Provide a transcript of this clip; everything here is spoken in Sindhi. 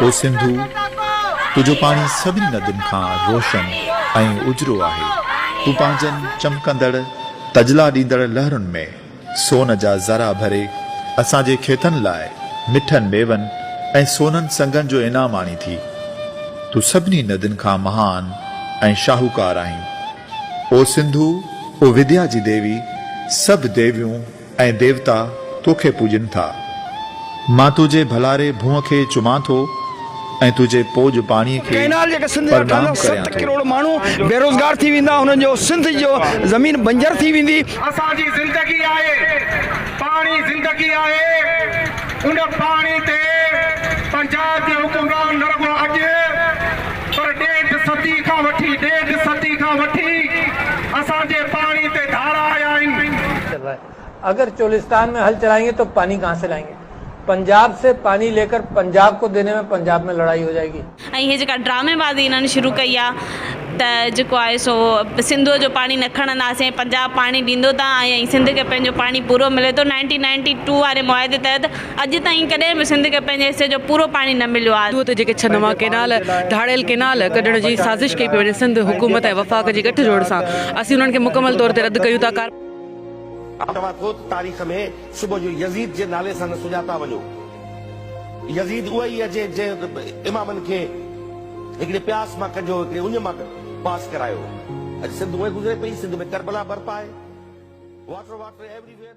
او سنڌو! تنهنجو پاڻي سڀني ندين کان روشن ۽ اجرو آهي. تون پنهنجن چمڪندڙ، تجلا ڏيندڙ لهرن ۾ سون جا ذرا ڀري اسان جي کيتن لاء مٺن ميون ۽ سونن سنگن جو انعام آڻين ٿي. تون سڀني ندين کان مهان ۽ شاهوڪار آهين. او سنڌو! او وديا جي ديوي! سڀ ديويون، ۽ ديوتا تو کي پوڄين ٿا. مان تنهنجي ڀلاري ڀونء کي چمان ٿو ۽ تنهنجي پوڄ پاڻيء کي ڪئنال جيڪا سنڌ جا ٽن پرنام ڪريان ست ٿو. ڪروڙ ماڻهو بيروزگار ٿي ويندا انهن جو سنڌ جو زمين بنجر ٿي ويندي. اسان جي زندگي آهي پاڻي زندگي آهي ان پاڻي تي پنجاب جي حڪمران نه رڳو اڄ پر ڏيڍ صدي کان وٺي ڏيڍ صدي کان وٺي اسان جي پاڻي تي ڌاڙا آيا آهن اگر چولستان ۾ هل چلائين گي تو پاني ڪهان سي لائين گي پنجاب سي پاني لي ڪر پنجاب ڪو ديني ۾ پنجاب ۾ لڙائي هو جائي گي. ۽ هي جيڪا ڊرامي بازي انهن شروع ڪئي آ ته جيڪو آهي سو سنڌوء جو پاڻي نه کڻنداسين ۽ پنجاب پاڻي ڏيندو ته آهي ۽ سنڌ کي پنهنجو پاڻي پورو ملي ٿو نائنٽين نائنٽي ٽو واري معاهدي تحت اڄ تائين ڪڏهن به سنڌ کي پنهنجي حصي جو پورو پاڻي نه مليو آ. سنڌوء تي جيڪي ڇهه نوان ڪينال ڌاڙيل ڪينال ڪڍڻ جي سازش ڪئي پئي وڃي سنڌ حڪومت ۽ وفاق جي ڳٺ جوڙ سان اسين انهن کي مڪمل طور تي رد ڪيون ٿا. توهان خود تاريخ ۾ صبح جو يزيد جي نالي سان نه سڃاتا وڃو. يزيد اهو ئي آهي جنهن امامن کي هڪڙي پياس مان ڪڍيو، هڪڙي اڃ مان پاس ڪرايو. اڄ سنڌ اهو ئي گذري پئي. سنڌ ۾ ڪربلا برپا آهي. Water water every where.